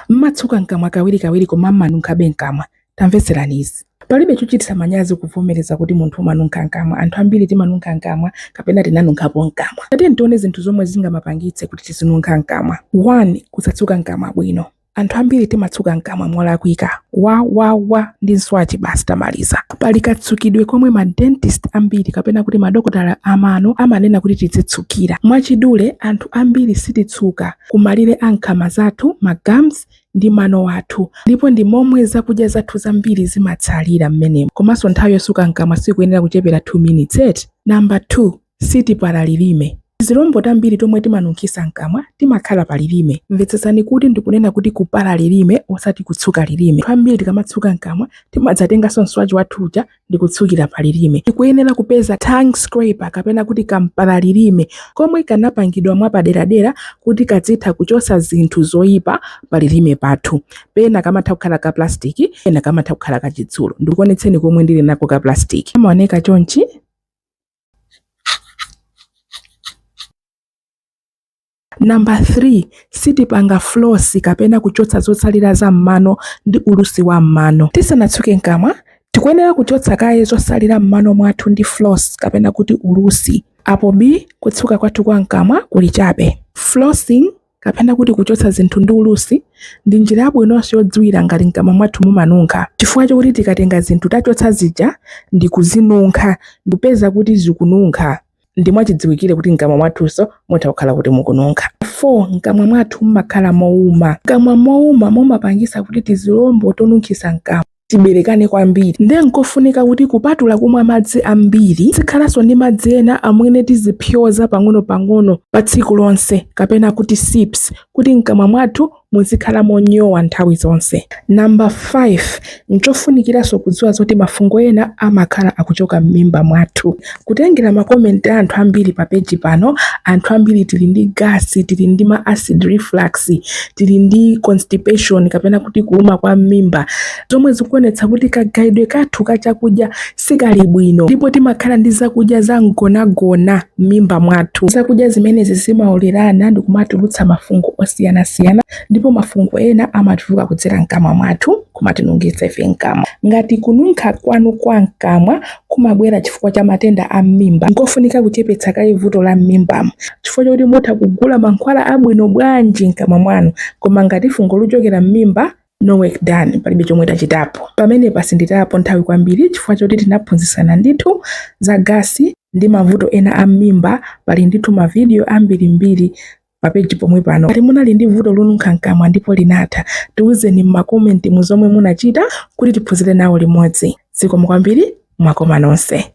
M'matsuka m'kamwa kawirikawiri koma m'manunkhabe m'kamwa. Tamvetserani izi. Palibe chochititsa manyazi kuvomereza kuti munthu umanunkha m'kamwa. Anthu ambiri timanunkha m'kamwa kapena tinanunkhapo m'kamwa. Tatiyeni tione zinthu zomwe zingamapangitse kuti tizinunkha m'kamwa. 1, Kusatsuka m'kamwa bwino. Anthu ambiri timatsuka m'kamwa molakwika. Wa! Wa! Wa! ndi mswachi basi tamaliza. Pali katsukidwe komwe ma dentist ambiri kapena kuti madokotala amano amanena kuti tidzitsukira. Mwachidule, anthu ambiri sititsuka. ku malire a nkhama zathu, ma gums, ndi mano athu, ndipo ndi momwe zakudya zathu zambiri zimatsalira m'menemo. Komanso nthawi yosuka mkamwa sikuyenera kuchepera 2 minutes eti? Number 2, Sitipala lilime. Tizilombo tambiri tomwe timanunkhisa mkamwa timakhala pa lilime. Mvetsetsani kuti ndikunena kuti kupala lilime osati kutsuka lilime. Anthu ambiri tikamatsuka mkamwa timadzatenganso mswachi wathu uja ndi kutsukira pa lilime. Tikuyenera kupeza tongue scraper kapena kuti kampala lilime komwe kanapangidwa mwapaderadera kuti kadzitha kuchosa zinthu zoyipa pa lilime pathu. Pena kamatha kukhala ka plastic, pena kamatha kukhala ka chitsulo. Ndikuonetseni komwe ndili nako ka plastic. Kamaoneka chonchi. Number 3, sitipanga floss kapena kuchotsa zotsalira za m'mano ndi ulusi wa m'mano. Tisanatsuke mkamwa, tikuyenera kuchotsa kaye zosalira m'mano mwathu ndi floss kapena kuti ulusi. Apo bi kutsuka kwathu kwa mkamwa kuli chabe. Flossing kapena kuti kuchotsa zinthu ndi ulusi ndi njira yabwinonso yodziwira ngati mkamwa mwathu mumanunkha chifukwa chokuti tikatenga zinthu tachotsa zija ndi kuzinunkha ndipeza kuti zikununkha. ndi mwachidziwikire kuti mkamwa mwathunso mutha kukhala kuti mukununkha. 4 mkamwa mwathu mumakhala mouma. Mkamwa mouma mumapangisa kuti tizilombo tonunkhisa mkamwa tiberekane kwambiri nde nkofunika kuti kupatula kumwa madzi ambiri tizikhalanso ndi madzi ena omwe tizipyoza pang'ono-pang'ono pa tsiku lonse kapena kuti sips kuti mkamwa mwathu Muzikhala monyowa nthawi zonse. Number 5, nchofunikiranso kudziwa zoti mafungo ena amakhala akuchoka mmimba mwathu. Kutengera ma comment a anthu ambiri pa page pano, anthu ambiri tili ndi gas, tili ndi ma acid reflux, tili ndi constipation kapena kuti kuuma kwa mmimba, zomwe zikuonetsa kuti kagayidwe kathu ka chakudya sikali bwino ndipo timakhala ndi zakudya za mgonagona m'mimba mwathu. Zakudya zimenezi zimaolerana ndi kumatulutsa mafungo osiyanasiyana ndipo mafungo ena amatuluka kudzera mkamwa mwathu kumatinunkhitsa ife mkamwa. Ngati kununkha kwanu kwa mkamwa kumabwera chifukwa cha matenda a m'mimba, nkofunika kuchepetsa kaye vuto la m'mimbamo chifukwa chakuti mutha kugula mankhwala abwino bwanji mkamwa mwanu koma ngati fungo likuchokera m'mimba no work done palibe chomwe tachitapo pamenepa sinditayapo nthawi kwambiri chifukwa choti tinaphunzitsana ndithu za gasi ndi mavuto ena a m'mimba pali ndithu mavidiyo ambirimbiri papeji pomwe pano ngati munali ndi vuto lonunkha mkamwa ndipo linatha tiwuzeni m'makomenti mu zomwe munachita kuti tiphunzire nawo limodzi zikomo kwambiri mwakoma nonse